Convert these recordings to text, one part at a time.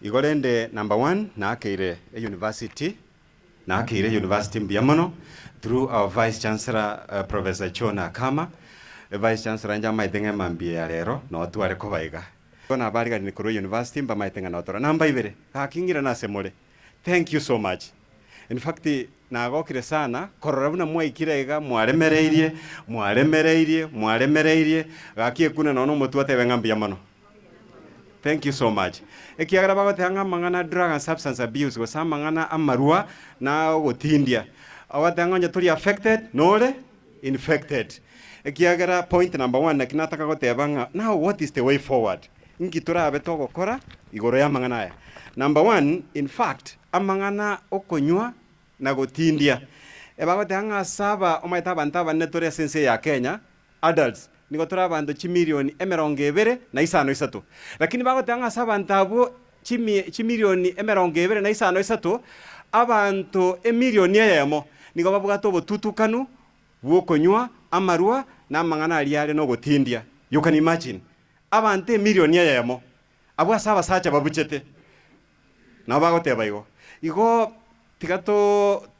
Igo rende number one naakeire e university. Naakeire e university mbuya mono through our vice chancellor Professor John Akama. Vice chancellor inche amaete ng'a emambia ya rero noo tware koba iga. Igo nabariganire korwa e university mbamaete ng'a notora. Number ibere, gaki ng'irana ase more. Thank you so much. In fact nagokire sana korora buna mwaikire iga mwaremereirie, mwaremereirie, mwaremereirie, gaki ekune nonye na omotwe otebe ng'a mbuya mono. Thank you so much. Ekiagera bagoteba ng'a amang'ana a drug and substance abuse gose amang'ana amarwa na ogotindia. Ogoteba ng'a onye tori affected nore infected. Ekiagera point number one naki nataka goteba ng'a now what is the way forward? Inki torabe togokora igoro y'amang'ana aya? Number one, in fact amang'ana okonywa na gotindia, ebagoteba ng'a ase aba omanyete abanto abanene tore ase ense eye ya Kenya Adults, nigo tore abanto chimilioni emerongo ebere na isano isato. Lakini bagoteba ng'a ase abanto abwo chimie, chimilioni emerongo ebere na isano isato, abanto emilioni eyemo nigo babwate obotutukanu bw'okonywa amarwa na amang'ana aria are nogotindia. You can imagine? Abanto emilioni eyemo abwo ase abasacha babuchete. Nao bagoteba igo, igo tiga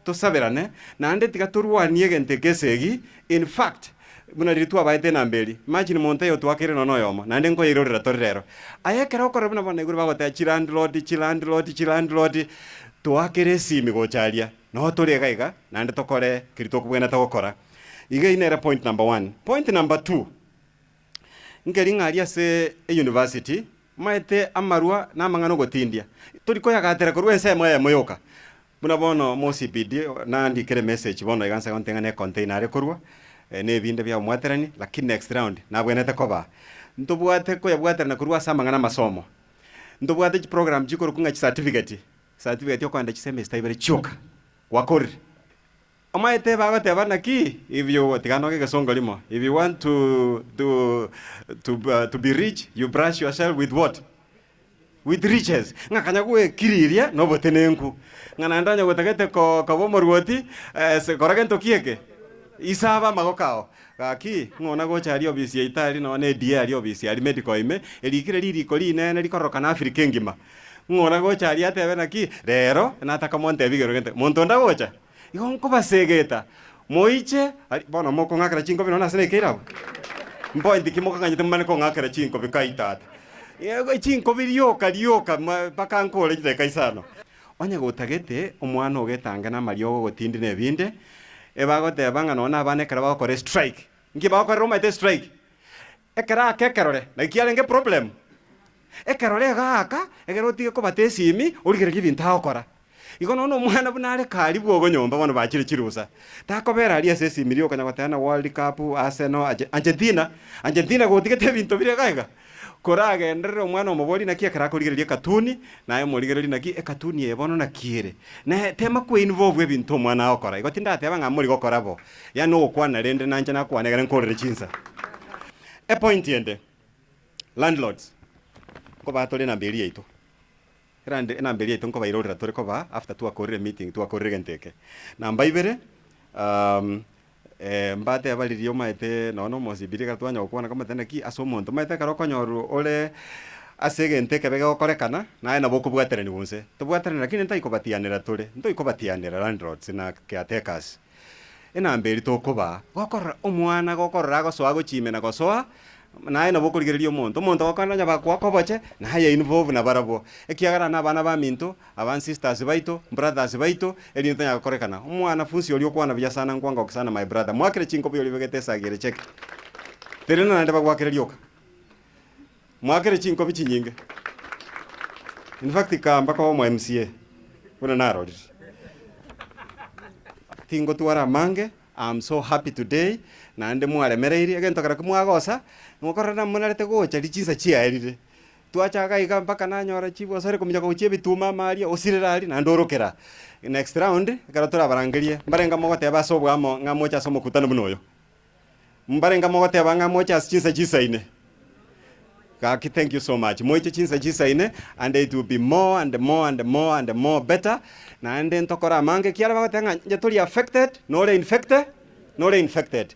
tosaberane, naende tiga torwanie egento eke esegi, in fact, buna riria twabaete enamba eri, imagine monto aye otoakeire nonya noyomo, naende nkoyeirorera tore rero. Aye ekero okorora buna bono naigure bagoteba chilandlord, chilandlord, chilandlord, toakere esimi gocha aria, nao tore iga iga, naende tokore keria tokobwenerete gokora. Iga eyio nere point number one. Point number two, Nkeri ng'a aria ase eyunivasiti maete amarwa na amang'ana ogotindia, tori koyagatera korwa ensemo eyemo yoka. Buna bono moCBD nandikire emessage bono iga nse gonte ng'a ne container are korwa, ne ebinde bia omwaterani, lakini next round nabwenerete kobaa. Ntobwate koyabwaterana korwa ase amang'ana amasomo. Ntobwate chiprogram chikorokwa ng'a chicertificate, certificate okogenda chisemester ibere chioka gwakorire. Omoetebe agoteba, Naki ibio gotigana noge egesongo rimo? If you want to to to be rich, you brush yourself with what? With riches. Ng'a kanya gwekiriria nobotenenku. Ng'a naende onye gotagete ko koba omoruoti, ase kora gento ki eke? Isaba amagoko ao. Gaki, ng'a ona gocha aria obisi ya Itali nonya ne DA aria obisi aria medical ime, erikire ririko rinene rikororokana Africa engima. Ng'a ona gocha aria atebe, Naki rero, nataka montebi igoro gento. Monto onde agocha? Igo nkobasegeta, moiche aria. Bono mokong'akera chinkobi nonya ase nekeire abwo? Mpointi ki mokang'anyete momanye kong'akera chinkobi kai tata? Chinkobi rioka rioka mpaka nkore chidakika isano. Onye gotagete omwana ogetange namariogo ogotindi nebinde, ebagoteba ng'a nonya abana ekero bagokora estrike. Nki bagokorera omaete estrike? Ekero aka ekerore naki kiarenge problem. Ekerore iga aka egere otige kobata esimi origererie ebinto agokora. Igo nonya omwana buna are karibu ogo nyomba bono bachire chirusa. Takobera aria ase esimi riokanya goteba na world cup, Arsenal, Argentina, Argentina gotigete ebinto bire iga iga. Koragenderere omwana omoborie naki ekero akorigereria ekatuni naye omorigererie naki ekatuni eye bono naki ere. Naye tema ko involve ebinto omwana agokora. Igo tindateba ng'a morigokora bo. Yaani ogokwana rende nanche nakwane ekero nkorire chinsa. Epointi ende, landlords, nkoba tore enamba eria yaito, erande enamba eria yaito nkobairorera tore koba after twakorire emeeting twakorire egento eke. Namba ibere, um, eh, mbateba riria omaete nonye na omosibiri ekero twanya gokwana nkomotebia naki ase omonto omaete ekero okonyorwa ore ase egento ekebe gegokorekana naye nabo okobwateraniwa onse. Tobwaterane lakini ntaikobatianera tore, ntoikobatianera landlords na caretakers. Enamba eria tokoba, gokorora omwana, gokorora agosoa agochime na gosoa, naye nabo okorigereria omonto. Omonto ogokwana onye bakoa koboche, naye invo buna barabwo, ekiagera nabana baminto, aba sisters baito, brothers baito, erinde tonyara gokorekana. Omwana funsi oria okwana buya sana ngwa ngoki sana my brother, mwakire chinkobo iyori bwegete esagi ere cheki. Teri naende bagwakire rioka. Mwakire chinkobi chinyinge. In fact kaamba koba omo MCA buna narorire. Tingotwara amange, am so happy today naende mwaremereirie egento keroki mwagosa ngokorora namonarete gocha richisa chiaerire. Twachaka iga mpaka nanyora chief osore kominyoka gochia ebituma ama aria osirere aria naende orokera. Next round ekero torabarangerie mbarenge mogoteba ase obwamo ng'a moche ase omokutano buna oyo. Mbarenge mogoteba ng'a moche ase chinsa chinsa ine. Gaki thank you so much. Moiche chinsa chinsa ine and it will be more and more and more and more better. Naende ntokore amange ekiara bagoteba ng'a inche tori affected, nore infecte, nore infected.